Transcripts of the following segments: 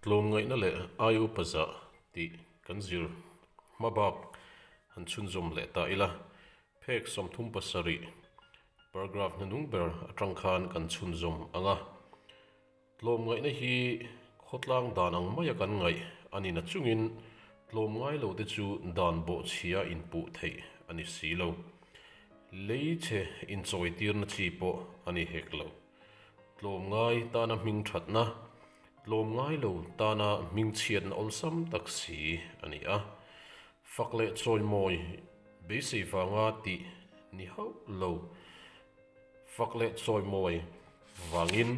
Tlawm ngaihna leh ai upa zah tih kan zir hma bak han chhunzawm leh ta ila, phek sawmthum pasarih paragraph hnanung ber atang khan kan chhunzawm ang a. Tlawm ngaihna hi khawtlang dan ang maia kan ngaih a ni na chungin tlawm ngai lo te chu dan bawhchhia inpuh theih a ni si lo. Lei chhe inchawitirna chi pawh a ni hek lo. Tlawm ngai tana hming thatna, tlawm ngai lo tana hming chhiatna awlsam tak si a ni a. Fak leh chawimawi, beisei vanga tih ni hauh lo. Fak leh chawimawi vangin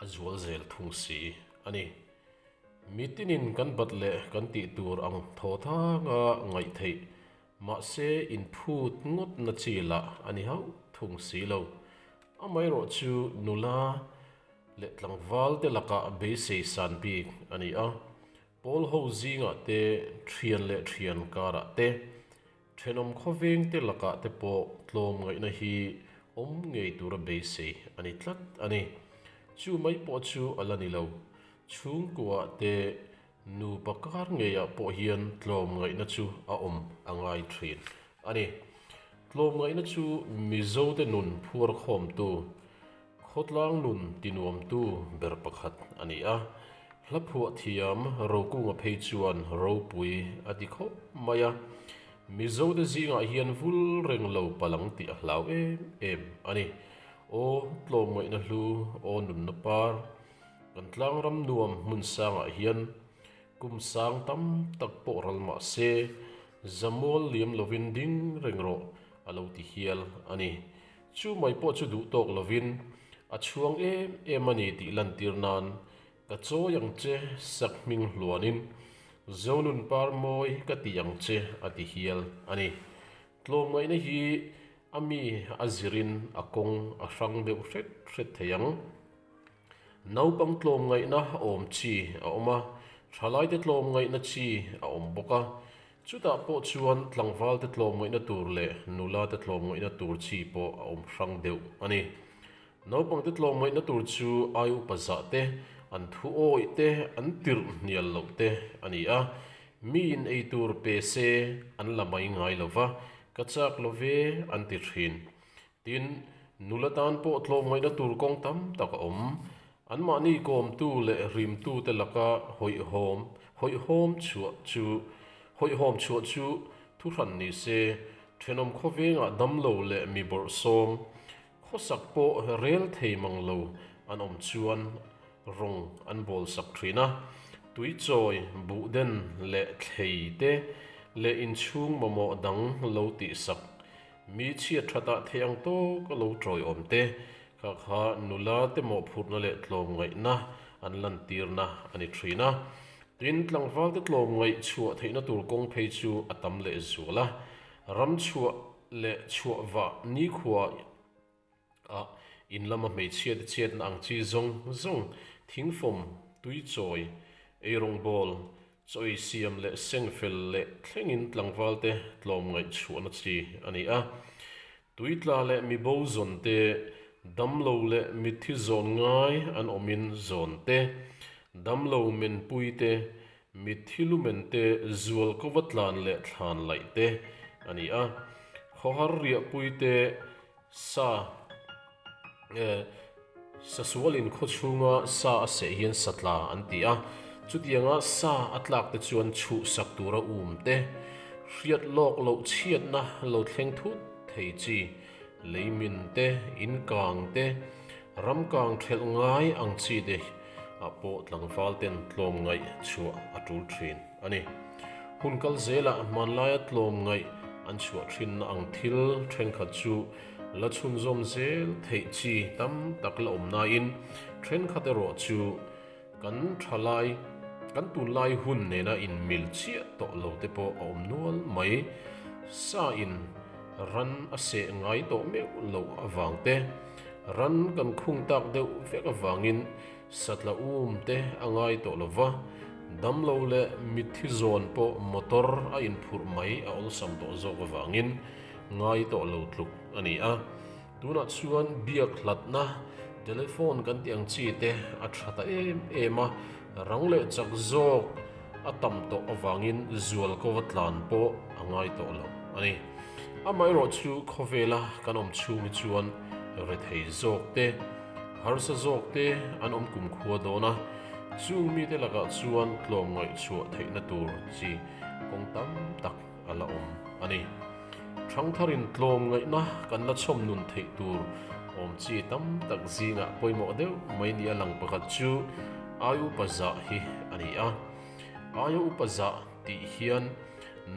a zual zel thung si a ni. Mitinin kan bat leh kan tih tur ang thawthanga ngaih theih Mahse in phut ngawtna chi lah a ni hauh thung si lo. Amaherawh chu nula leh tlangvalte lakah beisei san bik a ni a. Pawl ho zingah te, thian leh thian karah te, thenawm khawvengte lakah te pawh tlawm ngaihna hi awm ngei tura beisei a ni tlat a ni. Chu mai pawh chu a la ni lo. Chhungkuah te Nupa kar ngeiah pawh hian tlawm ngaihna chu a awm a ngai thin a ni. Tlawm ngaihna chu Mizote nun phuar khawmtu Khawtlang nun tinuamtu ber pakhat a ni a. Hlaphuah thiam rokunga phei chuan ropui a ti khawp mai a. Mizote zingah hian vul reng lo palang tih a hlau em em a ni. Aw tlawm ngaihna hlu, aw nunna par. Kan tlangram nuam hmun sangah hian kum sang tam tak pawh ral mah se, zamual liam lovin ding reng rawh a lo ti hial a ni. Chu mai pawh chu duh tawk lovin a chhuang em em a ni tih lantir nan ka chawi ang che sak hming hluanin, Zonun par mawi ka ti ang che a ti hial a ni. Tlawmngaihna hi a mi a zirin a kawng a hrang deuh hret hret thei ang. Naupang tlawm ngaihna a awm chi a awm a, thalaite tlawm ngaihna chi a awm bawk a. Chutah pawh chuan tlangvalte tlawm ngaihna tur leh nula te tlawm ngaihna tur chi pawh a awm hrang deuh a ni. Naupangte tlawm ngaihna tur chu ai upa zahte an thu awih te an tirh hnial loh te a ni a, mi in ei tur pe se an la mai ngai lo va, ka chak lo ve an ti thin. Tin, nula tan pawh tlawmngaihna tur kawng tam tak a awm. Anmahni kawmtu leh hrimtute laka hawihhawm, hawihhawm chhuah chu, hawihhawm chhuah chu thu hran ni se, thenawm khawvengah damlo leh mi bawrhsawm khawsak pawh rel thei mang lo an awm chuan rawng an bawlsak thin a. Tuichawi, buhden leh thleite leh inchhung mamawh dang lo tihsak Mi chhiat thatah theih ang tawk a lo tawiawm te, kha kha nula te mawhphurhna leh tlawmngaihna an lantirna a ni thin a. Tin, tlangvalte tlawmngaih chhuah theihna tur kawng phei chu a tam lehzual a. Ram chhuah leh chhuah vah nikhuaah. a in lama hmeichhia te chhiat na ang chi zawng zawng, thing fawm, tui chawi, ei rawng bawl, chawi siam leh seng fel leh thlengin tlangval te tlawm ngaihchhuahna chi a ni a. Tui tla leh mi bo zawn te, dam lo leh mitthi zawn ngai an awmin zawn te, dam lo men pui te, Mit hi lu mente zual ko va tlan leh thlan laih te a ni a. Khawhar riah pui te sa eh sa sual in khaw chhunga sa a seh hian sa tla an ti a. Chutianga sa a tlak te chuan chuh sak tura um te, hriat lawk loh chhiatna lo thleng thut thei chi. Leimin te, in kang te, ram kang ṭhelh ngai ang chi te ah pawh tlangval ten tlawm ngaih chhuah a ṭul ṭhin a ni. Hun kal zelah hmanlaia tlawm ngaih an chhuah ṭhinna ang thil ṭhenkhat chu la chhunzawm zel theih chi tam tak la awm naiin ṭhenkhat erawh chu, Kan tha lai, kan tunlai hun nena inmil chiah tawh lo te pawh a awm nual mai. Sa in ran a seh ngai tawh meuh loh avang te, ran kan khung tak deuh vek avangin sa tla um te a ngai tawh lo va, damlo leh mitthi zawn pawh motor a inphurh mai a awlsam tawh zawk avangin ngai tawh lo tluk a ni a. Tunah chuan biak hlatna, telephone kan tih ang chi te a tha ta em em a, rang leh chak zawk a tam tawh avangin zual ko va tlan pawh a ngai tawh lo a ni. Amaherawh chu khawvela kan awm chhung hi chuan rethei zawk te, harsa zawk te an awm kumkhua dawn a, chung mite lakah chuan tlawmngaih chhuah theihna tur chi kawng tam tak. a la awm a ni. Thangthar in tlawm ngaihna kan la chhawm nun theih tur awm chi tam tak zingah pawimawh deuh mai ni a lang pakhat chu Ai Upa Zah hi a ni a. Ai Upa Zah tih hian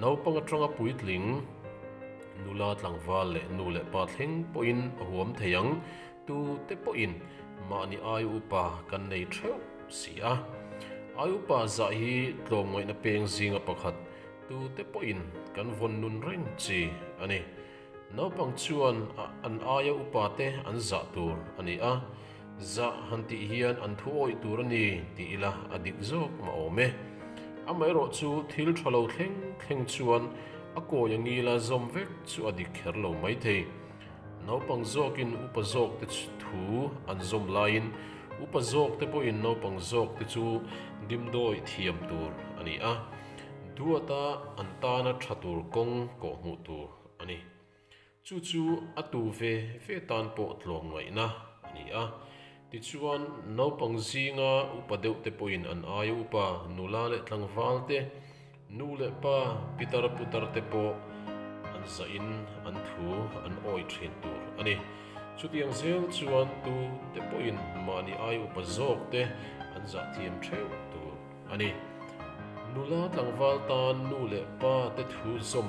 naupang atanga puitling, nula tlangval leh nu leh pa thleng pawhin a huam thei ang. Tu te pawhin mahni Ai Upa kan nei theuh si a. Ai Upa Zah hi tlawm ngaihna peng zinga pakhat Tute pawhin kan vawn nun reng chi a ni. Naupang chuan an aia upa te an zah tur a ni a, zah han tih hian an thu awih tur a ni tih ila a dik zawk mahawm e. Amaherawh chu thil tha lo thleng thleng chuan a kawi a ngil a, zawm vek chu a dik kher lo mai thei. Naupang zawkin upa zawkte thu an zawm laiin upa zawkte pawhin naupang zawkte chu dimdawi thiam tur a ni a. Duata an tana tha tur kawng kawh hmuh tur a ni. Chu chu a tu ve ve tan pawh tlawm ngaihna a ni a. Tichuan, naupang zinga upa deuhte pawhin an aia upa nula leh tlangvalte, nu leh pa, pitar putar te pawh an zahin an thu an awi thin tur a ni. Chutiang zel chuan tute pawhin mahni aia upa zawkte an zah thiam theuh tur. A ni. Nula tlangval tan nu leh pa te thu zawm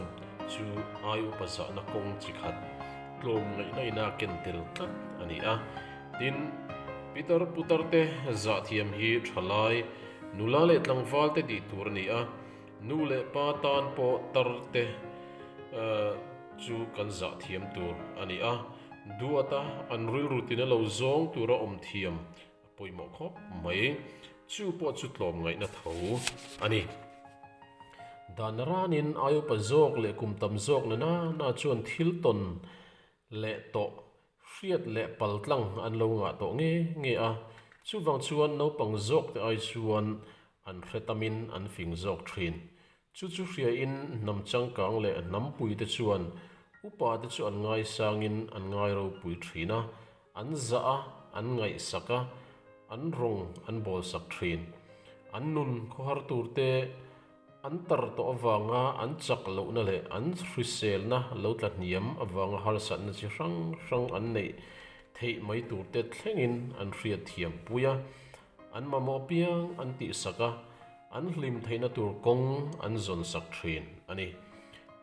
chu ai upa zahna kawng chi khat tlawm ngaih naihna a ken tel tlat a ni a. Tin, pitar putar te zah thiam hi tha lai nula leh tlangval te tih tur a ni a, nu leh pa tan pawh tar te chu kan zah thiam tur a ni a. Duata an rilru tina lo zawng tura awm thiam. Pawimawh khawp mai. Chu pawh chu tlawm ngaihna tho a ni. Dan ranin ai upa zawk leh kum tam zawk nena na chuan thil tawn leh tawh hriat leh pal tlang an lo ngah tawh nge nge a. Chuvang chuan naupang zawkte ai chuan an hre tamin an fing zawk thin. Chu chu hriain hnam changkang leh hnam puite chuan upa te chu an ngaisangin an ngai ropui ṭhin a, an zah a, an ngaihsak a, an rawng an bawlsak ṭhin. An nun khawhar turte an tar tawh avanga an chak lohna leh an hriselna lo tla hniam avanga harsatna chi hrang hrang an neih theih mai turte thlengin an hriatthiam pui a, an mamawh piang an tihsak a, an hlim theihna tur kawng an zawn sak thin a ni.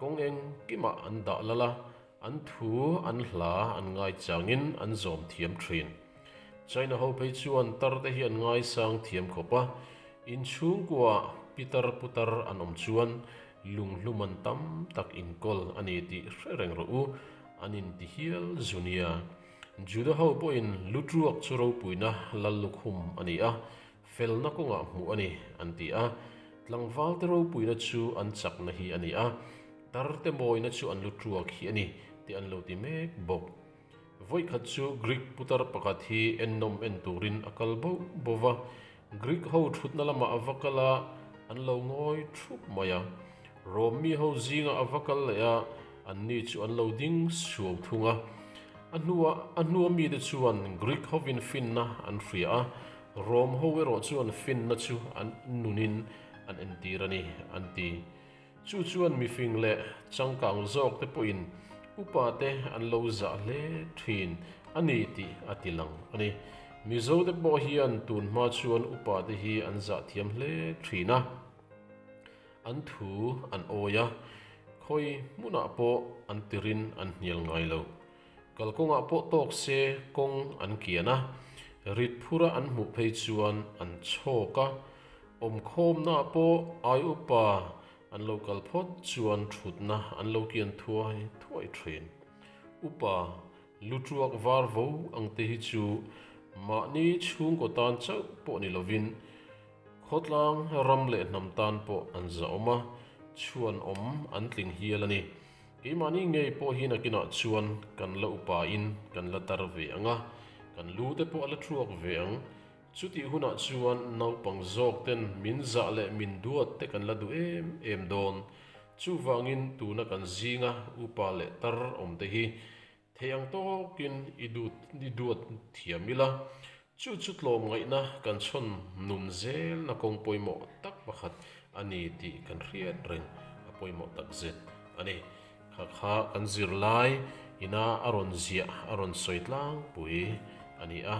Kawng eng kimah an dah lal a, an thu an hla an ngaichangin an zawm thiam thin. China ho phei chuan tarte hi an ngaisang thiam khawp a, in chhungkuah pi tar pu tar an awm chuan lung hluman tam tak inkawl a ni tih hre reng rawh u an inti hial zu nia. Juda ho pawhin lu tuak chu ropuina lal lukhum a ni a, Felna kawngah hmuh a ni, an ti a. Tlangvalte ropuina chu an chakna hi a ni a, tarte mawina chu an lu ṭuak hi a ni, tih an lo ti mek bawk. Vawikhat chu Greek putar pakhat hi ennawm en turin a kal bauh bauh va, Greek ho ṭhutna lamah a va kal a, an lo ngawi ṭhup mai a. Rome mi ho zingah a va kal leh a, anni chu an lo ding suau thung a. A hnuah a hnuamite chuan Greek hovin finna an hria a. Rom ho erawh chu an finna chu an nunin an entir a ni, an ti. Chu chuan mifing leh changkang zawkte pawhin upa te an lo zah hle thin a ni tih a ti lang a ni. Mizote pawh hian tunhma chuan upa te hi an zah thiam hle thin a, an thu an awi a, khawi hmunah pawh an tirin an hnial ngai lo. Kalkawngah pawh tawk se kawng an kian a, rit phura an hmuh phei chuan an chhawk a, awmkhawmnaah pawh ai upa an lo kal phawt chuan thutna an lo kian thuai thuai thin. Upa lu tuak var vo ang te hi chu mahni chhungkaw tan chauh pawh ni lovin khawtlang ram leh hnam tan pawh an zahawm a, chhuanawm an tling hial a ni. Keimahni ngei pawhin a kinah chuan kan la upa in kan la tar ve ang a, kan lu te pawh a la ṭhuak ve ang. Chutih hunah chuan naupang zawk ten min zah leh min duat te kan la duh em em dawn. Chuvangin tuna kan zing a, upa leh tar awm te hi Thei ang tawkin i dut i duat thiam ila, chu chu tlawm ngaihna kan chhawn nun zelna kawng pawimawh tak pakhat a ni tih kan hriat reng a pawimawh takzet a ni. Kha kha kan zirlai ina a rawn ziah a rawn sawi tlangpui a ni a,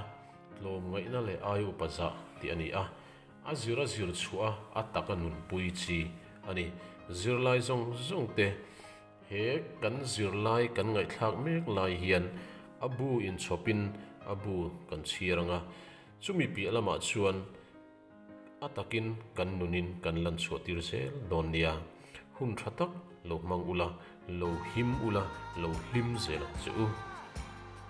tlawm ngaihna leh ai upa zah tih a ni a, a zir a zir chhuah a a tak a nunpui chi a ni. Zirlai zawng zawngte. He kan zirlai kan ngaihthlak mek lai hian a bu inchhawpin a bu kan chhiar ang a, chumi piah lamah chuan a takin kan nunin kan lan chhuahtir zel dawn nia. Hun tha tak lo hmang ula, lo him ula, lo hlim zel che u.